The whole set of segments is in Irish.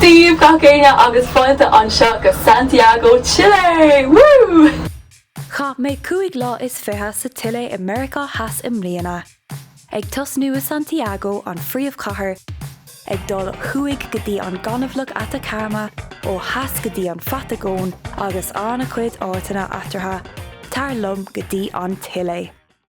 Dia daoibh gach éinne agus fáilte anseo go Santiago Chile! Woo! Chaith mé cúig lá is fiche sa tSile i Meiriceá Theas i mbliana. Ag tosnú i Santiago, an phríomhchathair, ag dul ó thuaidh go dtí an gaineamhlach Atacama, ó theas go dtí an Phatagóin agus an-chuid áiteanna eatartha, tar liom go dtí an tSile!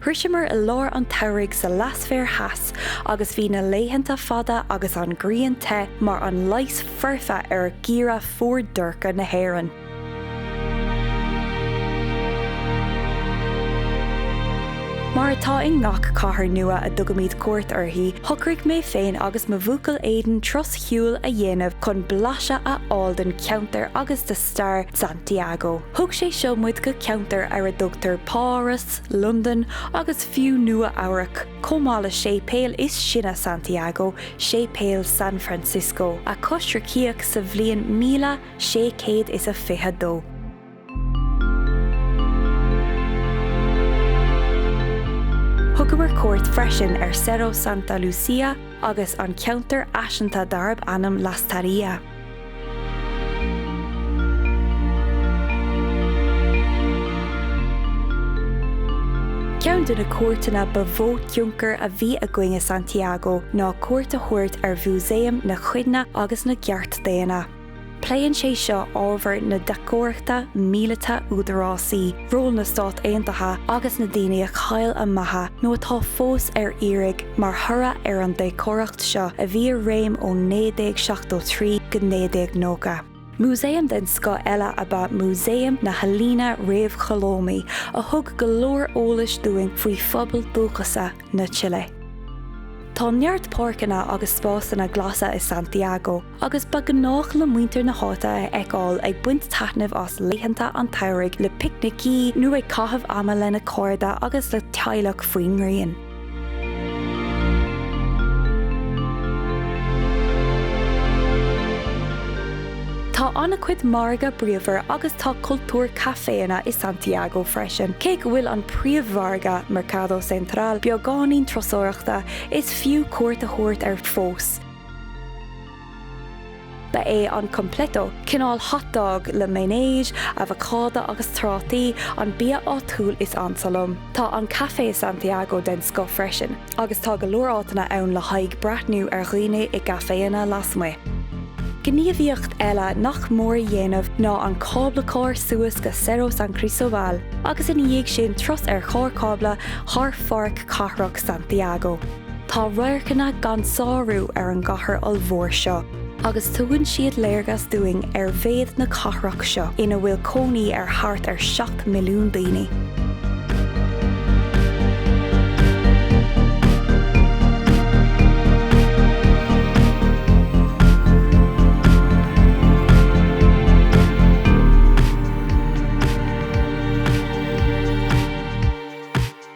Shroiseamar i lár an tsamhraidh sa leathsféar theas agus bhí na laethanta fada agus an ghrian te mar an leigheas foirfe ar gheimhreadh fuar dorcha na hÉireann. Mar atá i ngach cathair nua a dtugaimid cuairt uirthi, shocraigh mé féin agus mo bhuachaill Aidan turas siúil a dhéanamh chun blaiseadh a fháil den cheantar agus de stair Santiago. Thug sé seo muid go ceantar ar a dtugtar Páras, Londain agus fiú Nua Eabhrac, chomh maith le séipéal is sine Santiago, Séipéal San Francisco, a coisricíodh sa bhliain míle sé céad is a fiche dó. Thugamar cuairt freisin ar Cerro Santa Lucia agus an ceantar fhaiseanta darb ainm Lastarria. Ceann de na cuairteanna ba mhó tionchar a bhí againn i Santiago ná cuairt a thabhairt ar Mhúsaem na Cuimhne agus na gCeart Daonna. Pléann sé seo ábhar na deachtóireachta míleata údarásaí. ról na Stát Aontaithe agus na daoine a chaill a mbeatha nó atá fós ar iarraidh mar thoradh ar an deachtóireacht seo a bhí i réim ó 1973 go 1990. Músaem den scoth eile ab ea Músaem na hEalaíne Réamhcholómaí a thug go leor eolais dúinn faoi phobail dúchasa na tSile. Tá neart páirceanna agus spásanna glasa i Santiago. agus ba ghnách le muintir na háite a fheiceáil ag baint taitnimh as laethanta an tsamhraidh le picnicí nó ag caitheamh ama lena cairde agus le teaghlach faoin ngrian. Tá an-chuid margadh bríomhar agus tá cultúr caiféanna i Santiago freisin. Cé go bhfuil an príomh-mhargadh, Mercado Central, beagáinín turasóireachta, is fiú cuairt a thabhairt air fós. Ba é an completo, cineál hot dog le mayonnaise, avocádo agus trátaí, an bia áitiúil is ansa liom. Tá an caife i Santiago den scoth freisin, agus tá go leor áiteanna ann le haghaidh breathnú ar dhaoine i gcaiféanna lasmuigh. Gníomhaíocht eile nach mór a dhéanamh ná an cáblacharr suas go Cerro San Cristobal agus ina dhiaidh sin turas ar charr cábla thar Pháirc Cathrach Santiago. Tá radharcanna gan sárú ar an gcathair ollmhór seo agus tugann siad léargas dúinn ar mhéad na cathrach seo ina bhfuil cónaí ar thart ar 7 milliún daoine.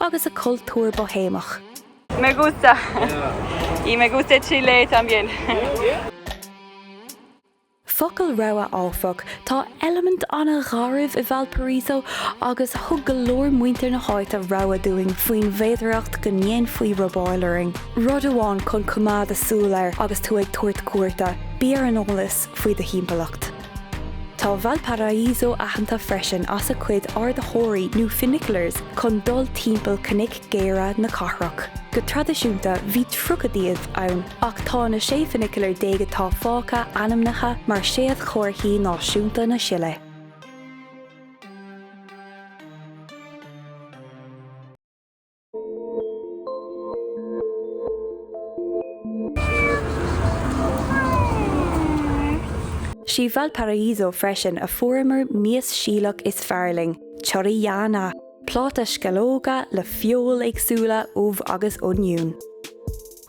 agus a cultúr Boihéamach. Me gusta. Y me gusta Chile también. Focal rabhaidh áfach, tá eilimint an-gharbh i Valparaíso agus thug go leor muintir na háite rabhadh dúinn faoin bhféidearthacht go ndéanfaí robáil orainn. Rud amháin chun coimeád súil air agus tú ag tabhairt cuairte, bí ar an eolas faoi do thimpeallacht. Tá Valparaíso aitheanta freisin as a cuid ardaitheoirí nó funiculars chun dul timpeall cnoic géara na cathrach. Go traidisiúnta bhí tríocha díobh ann ach tá na sé funicular déag atá fágtha ainmnithe mar Séadchomharthaí Náisiúnta na Sile. Is i Valparaíso freisin a fuaireamar an mhias Síleach is fearr linn, chorrillana, pláta sceallóga le feoil éagsúla, ubh agus oinniún.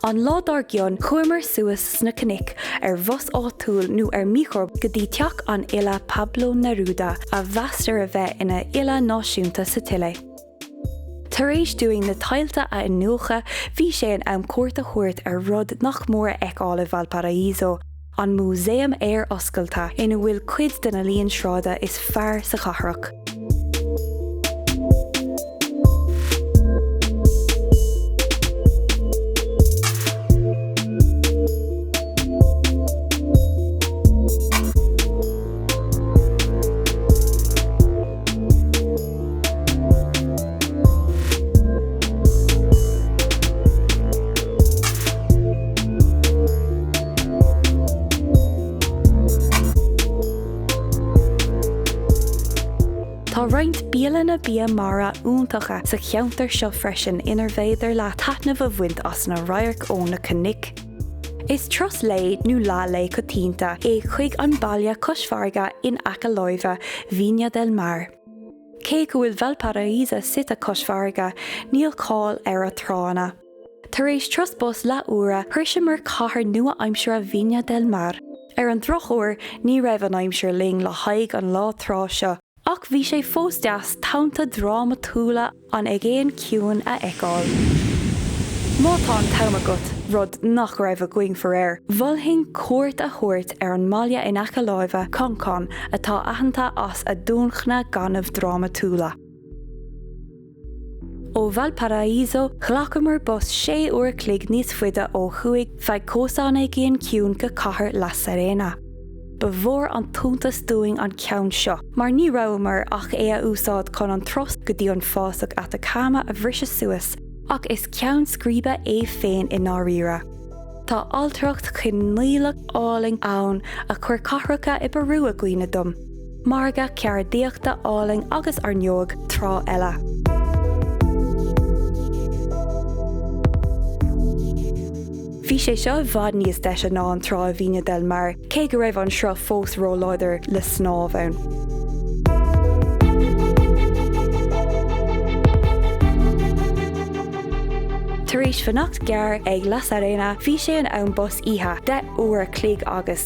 An lá dár gcionn chuamar suas sna cnoic ar bhus áitiúil nó ar micro go dtí teach an fhile Pablo Neruda a mheastar a bheith ina fhile náisiúnta sa tSile. Tar éis dúinn na tailte a iniúchadh, bhí sé in am cuairt a thabhairt ar rud nach mór a fheiceáil i Valparaíso, an Músaem Aeir Oscailte, ina bhfuil cuid de na healaíon sráide is fearr sa chathrach. Tá roinnt bialanna bia mara iontacha sa cheantar seo freisin inar féidir leat taitneamh a bhaint as na radhairc ó na cnoic. Is turas lae nó leathlae coitianta é chuig an baile cois farraige in aice láimhe, Viña del Mar. Cé go bhfuil Valparaíso suite cois farraige, níl cáil ar a tránna. Tar éis turas bus leath uaire, shroiseamar cathair nua-aimseartha Viña del Mar. Ar an drochuair, ní raibh an aimsir linn le haghaidh an lá trá seo, ach bhí sé fós deas, tonnta drámatúla, An Aigéan Ciúin a fheiceáil. Má tá an t-am agat, rud nach raibh againn, faraor, mholfainn cuairt a thabhairt ar an mbaile in aice láimhe, Concón, atá aitheanta as a dumhcha gainimh drámatúla. Ó Valparaíso, ghlacamar bus sé uair an chloig níos faide ó thuaidh feadh chósta an Aigéin Ciúin go cathair La Serena. Ba mhór an t-iontas dúinn an ceann seo, mar ní rabhamar ach é a úsáid chun an turas go dtí an fásach Atacama a bhriseadh suas, ach is ceann scríbe é féin i ndáiríre. Tá ailtireacht choilíneach álainn ann a chuir cathracha i bPeiriú i gcuimhne dom. Margadh ceardaíochta álainn agus ar ndóigh trá eile. Bhí sé seo i bhfad níos deise ná an trá i Viña del Mar, cé go raibh an sruth fós róláidir le snámh ann. Tar éis fanacht gearr ag La Serena, bhí sé in am bus oíche, deich uair an chloig agus.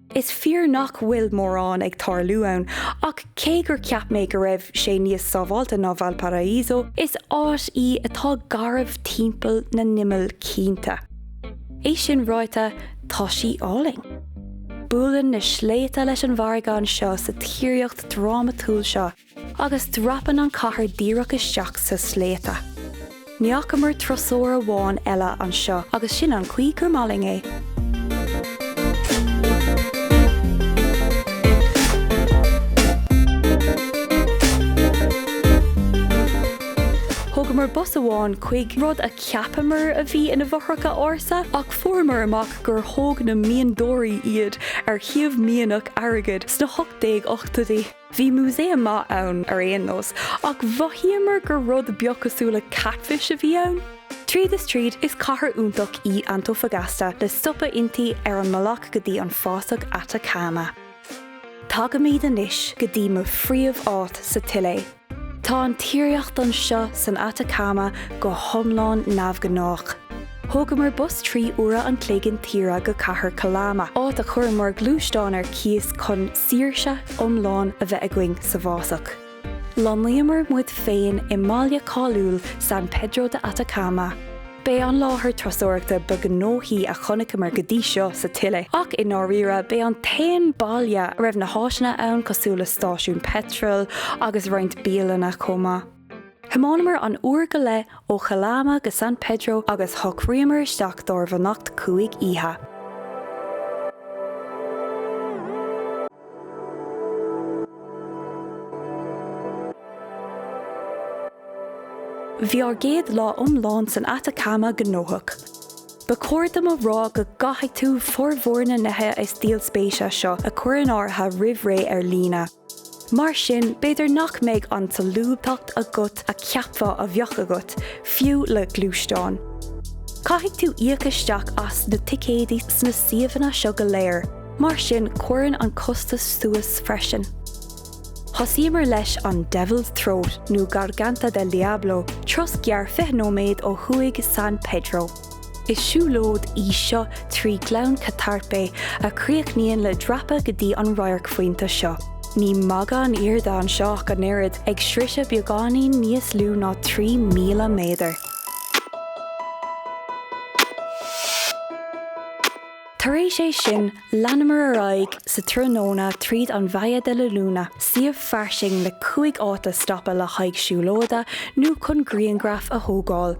Is fíor nach bhfuil mórán ag tarlú ann, ach cé gur cheap mé go raibh sé níos sábháilte ná Valparaíso, is áit í atá garbh timpeall na n-imeall cinnte. É sin ráite, tá sí álainn. Buaileann na sléibhte leis an bhfarraige anseo sa tíreolaíocht drámatúil seo. Agus dreapann an chathair díreach isteach sna sléibhte. Ní fhacamar turasóir amháin eile anseo agus sin an chaoi gur maith linn é. Thógamar bus amach chuig rud a cheapamar a bhí ina bhfothracha ársa ach fuaireamar amach gur thóg na mianadóirí iad ar shuíomh mianach airgid sna hocht déag ochtóidí. Bhí músaeim maith ann ar aon nós, ach mhothaíomar gur rud beag cosúil le catfish a bhí ann. Tríd is tríd, is cathair iontach í Antofagasta le stopadh inti ar an mbealach go dtí an fásach Atacama. Tagaimid anois go dtí mo phríomháit sa tSile. Tá an tíreolaíocht anseo san Atacama go hiomlán neamhghnách. Thógamar bus trí huaire an chloig intíre go cathair Calama, áit a chuireamar gluaisteán ar cíos chun saoirse iomlán a bheith againn sa bhfásach. Lonnaíomar muid féin i mbaile cáiliúil San Pedro de Atacama. B'é an láthair turasóireachta ba ghnóthaí a chonaiceamar go dtí seo sa tSile, ach i ndáiríre b'é an t-aon baile a raibh na háiseanna ann cosúil le stáisiún peitril agus roinnt bialanna chomh maith. Thiomáineamar an uair go leith ó Chalama go San Pedro agus shocraíomar isteach dár bhfanacht cúig oíche. Bhí ár gcéad lá iomlán san Atacama gnóthach. Ba chóir dom a rá go gcaithfidh tú formhór na nithe is díol spéise seo a chur in áirithe roimh ré ar líne. Mar sin, b'fhéidir nach mbeidh an tsolúbthacht agat a cheapfá a bheadh agat, fiú le gluaisteán. Caithfidh tú íoc isteach as na ticéidí sna suíomhanna seo go léir, mar sin cuireann an costas suas freisin. Thosaíomar leis an Devil's Throat nó Garganta del Diablo, turas gearr 20 nóiméad ó thuaidh San Pedro. Is siúlóid í seo trí Gleann Catarpe a chríochnaíonn le dreapadh go dtí an radharcphointe seo. Ní magadh an airde anseo ach an oiread, ag sroiseadh beagáinín níos lú ná 3,000 méadar. Tar éis é sin, Leanamar ar aghaidh sa tráthnóna tríd an Valle de la Luna, suíomh fairsing le cúig áit a stopadh le haghaidh siúlóide nó chun grianghraif a thógáil.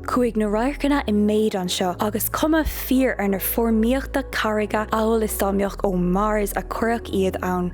Chuaigh na radharcanna i méid anseo agus cuma fíor ar na foirmíochta carraige amhail is dá mbeadh ó Mars a cuireadh iad ann.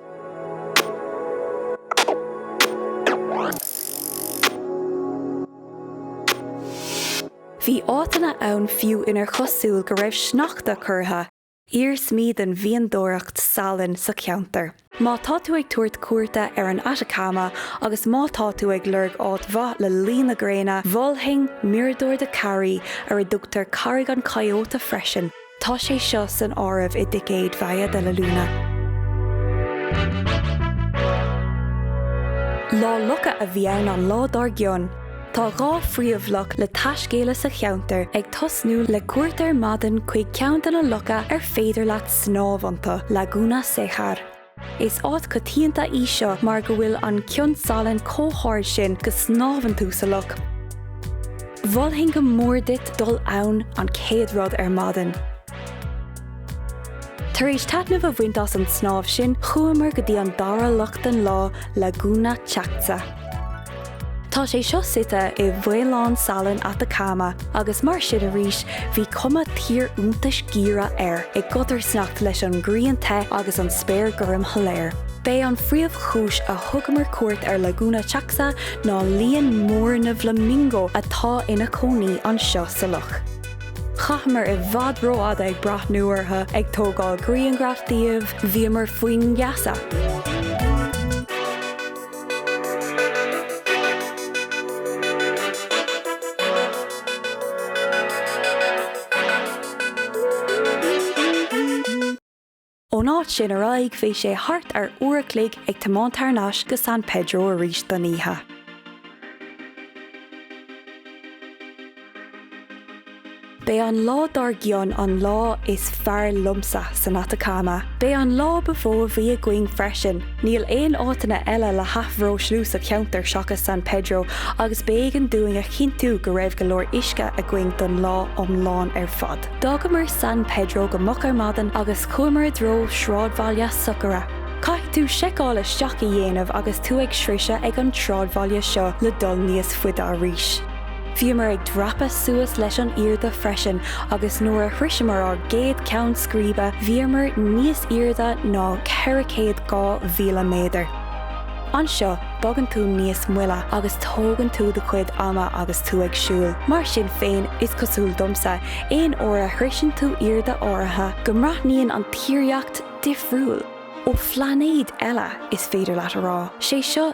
Bhí áiteanna ann fiú inar chosúil go raibh sneachta curtha. Iarsmaí den mhianadóireacht salainn sa cheantar. Má tá tú ag tabhairt cuairte ar an Atacama agus má tá tú ag lorg áit mhaith le luí na gréine, mholfainn Mirador de Kari, ar a dtugtar Carraig an Coyote freisin. Tá sé seo san áireamh i dticéad Valle de la Luna. Lá locha a bhí ann an lá dár gcionn. Tá dhá phríomhloch le taiscéaladh sa cheantar, ag tosnú le cuairt ar maidin chuig ceann de na locha ar féidir leat snámh iontu, Laguna Cejar. Is áit coitianta í seo mar go bhfuil an cion salainn chomh hard sin go snámhann tú sa loch. Mholfainn go mór duit dul ann an chéad rud ar maidin. Tar éis taitneamh a bhaint as an snámh sin, chuamar go dtí an dara loch den lá, Laguna Chaxa. Tá sé seo suite i bhfaoileán salainn Atacama agus mar sin arís bhí cuma thír iontais gheimhridh air i gcodarsnacht leis an ngrian te agus an spéir gorm shoiléir. B'é an phríomhchúis a thugamar cuairt ar Laguna Chaxa ná líon mór na bhflamingo atá ina cónaí anseo sa loch. Chaitheamar i bhfad rófhada ag breathnú orthu, ag tógáil grianghraf díobh, bhíomar faoin ngeasa! Ón áit sin ar aghaidh bhí sé thart ar uair a chloig ag tiomáint thar nais go San Pedro arís don oíche. B'é an lá dár gcionn an lá is fearr liomsa san Atacama. B'é an lá ba mhó a bhí againn freisin. Níl aon áiteanna eile le hathbhreoslú sa cheantar seachas San Pedro agus b'éigean dúinn a chinntiú go raibh go leor uisce againn don lá iomlán ar fad. D'fhágamar San Pedro go moch ar maidin agus chuamar i dtreo sráidbhaile Socaire. Caithfidh tú seiceáil isteach a dhéanamh agus tú ag sroiseadh ag an sráidbhaile seo le dul níos faide arís. Bhíomar ag dreapadh suas leis an airde freisin agus nuair a shroiseamar ár gcéad ceann scríbe bhíomar níos airde ná ceithre céad dhá mhíle méadar. Anseo bogann tú níos moille agus tógann tú do chuid ama agus tú ag siúl. Mar sin féin, is cosúil domsa, aon uair a shroiseann tú airde áirithe, go mbreathnaíonn an tírdhreach difriúil, ó phlainéad eile, is féidir leat a rá. 'Sé seo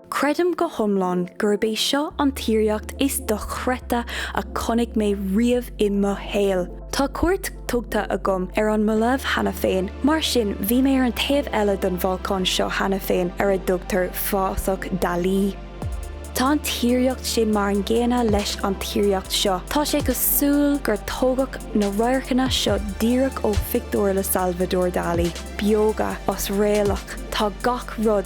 Creidim go hiomlán gurb é seo an tírdhreach is dochreidte a chonaic mé riamh i mo shaol. Tá cuairt tugtha agam ar an mBolaiv cheana féin, mar sin bhí mé ar an taobh eile den bholcán seo cheana féin ar a dtugtar Fásach Dalí. Tá an tírdhreach sin mar an gcéanna leis an tírdhreach seo, tá sé cosúil gur tógadh na radharcanna seo díreach ó phictiúir le Salvador Dalí. Beoga, osréalach, tá gach rud.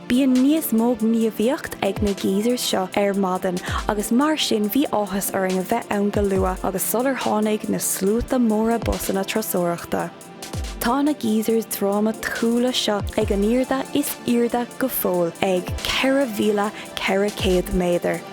Bíonn níos mó gníomhaíocht ag na geysers seo ar maidin agus mar sin bhí áthas orainn a bheith ann go luath agus sular tháinig na sluaite móra busanna turasóireachta. Tá na geysers drámatúla seo ag an airde is airde go fóill ag 4,400 méadar.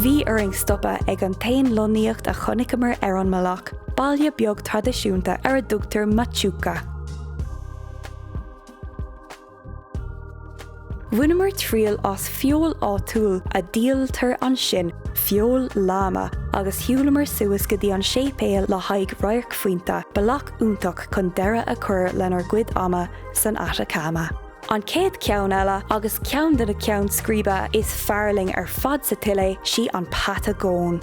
Bhí orainn stopadh ag an t-aon lonnaíocht a chonaiceamar ar an mbealach, baile beag traidisiúnta ar a dtugtar Machuca. Bhaineamar triail as feoil áitiúil a díoltar ansin, feoil láma, agus shiúlamar suas go dtí an séipéal le haghaidh radharcphointe, bealach iontach chun deireadh a chur lenár gcuid ama san Atacama. An chéad cheann eile, agus ceann de na ceann scríbe is fearr linn ar fad sa tSile, sí an Patagóin.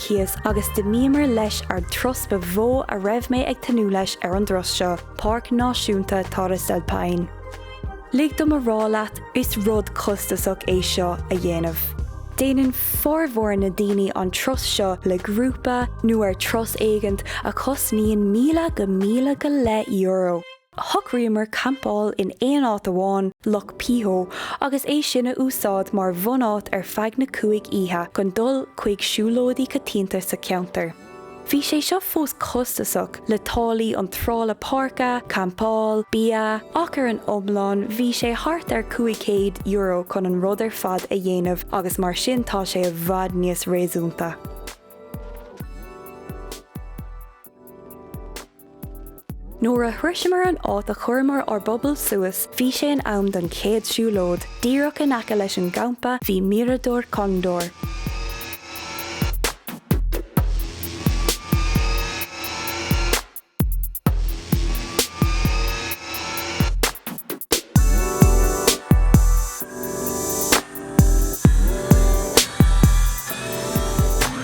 cíos agus d'imíomar leis ár dturas ba mhó a raibh mé ag tnúth leis ar an dturas seo, Páirc Náisiúnta Torres del Paine. Lig dom a rá leat, is rud costasach é seo a dhéanamh. Déanann formhór na ndaoine an turas seo le grúpa nó ar turas éigint a chosnaíonn míle go míle go leith euro. Shocraíomar campáil in aon áit amháin, Loch Pehoé, agus é sin a úsáid mar bhunáit ar feadh na cúig oíche chun dul chuig siúlóidí coitianta sa cheantar. Bhí sé seo fós costasach, le táillí iontrála páirce, campáil, bia, ach ar an iomlán bhí sé thart ar €500 chun an rud ar fad a dhéanamh agus mar sin tá sé i bhfad níos réasúnta. Nuair a shroiseamar an áit, chuireamar ár bpuball suas, bhí sé in am don chéad siúlóid. Díreach in aice leis an gcampa bhí Mirador Cóndor.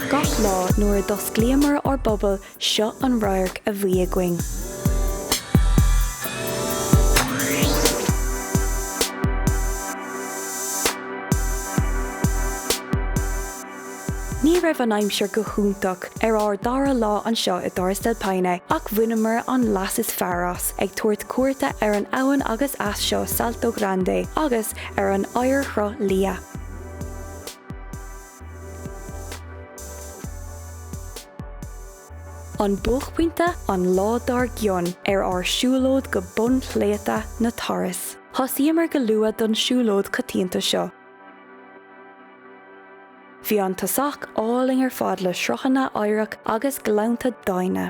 Gach lá nuair a d'osclaíomar ár bpuball Seo an radharc a bhí againn. Ní raibh an aimsir go hiontach ar ár dara lá anseo i dTorres del Paine ach bhaineamar an leas is fearr as, ag tabhairt cuairte ar an abhainn agus eas seo Salto Grande agus ar an oighearshruth liath. An buaicphointe, an lá dár gcionn ar ár siúlóid go bun shléibhte na Torres. Thosaíomar go luath don siúlóid coitianta seo. Bhí an tosach álainn ar fad le sruthanna oighreach agus gleannta doimhne.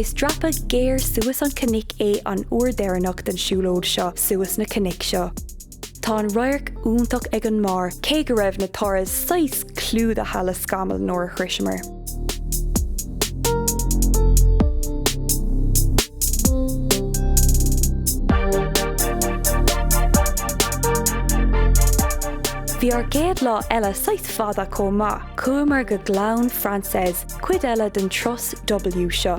Is dreapadh géar suas an cnoic é an uair deireanach den siúlóid seo suas na cnoic seo. Tá an radharc iontach ag an mbarr cé go raibh na Torres saghas clúdaithe le scamaill nuair a shroiseamar. Bhí ár gcéad lá eile saghas fada chomh maith. Chuamar go Gleann Francés, cuid eile den turas W seo.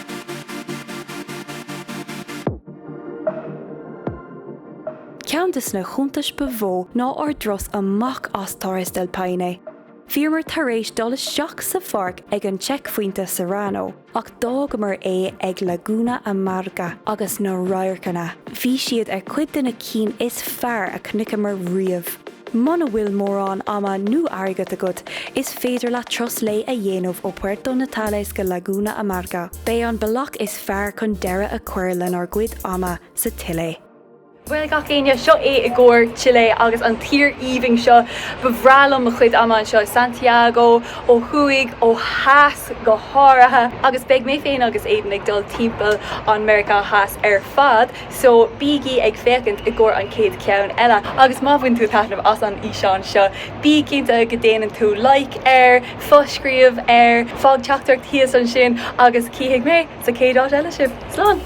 Ceann de sna hiontais ba mhó ná ár dturas amach as Torres del Paine. Bhíomar tar éis dul isteach sa pháirc ag an tseicphointe Serrano ach d'fhágamar é ag Laguna Amarga agus na radharcanna, bhí siad ar chuid de na cinn is fearr a chonaiceamar riamh. Muna bhfuil mórán ama nó airgead agat, Is féidir leat turas lae a dhéanamh ó Puerto Natales go Laguna Amarga. B'é an bealach is fearr chun deireadh a chur lenár gcuid ama sa Chile. Bhuel, gach éinne, seo é i gcomhair Chile agus an tír aoibhinn seo. Ba bhreá liom mo chuid ama anseo i Santiago, ó thuaidh, ó theas go háirithe, agus beidh mé féin agus Aidan ag dul timpeall an Meiriceá Theas ar fad. so bígí ag féachaint i gcomhair an chéad cheann eile agus má bhain tú taitneamh as an fhíseán seo, bí cinnte go déanann tú like air, fo-scríobh air, fág teachtaireacht thíos ansin agus cífidh mé sa chéad áit eile sibh. Slán!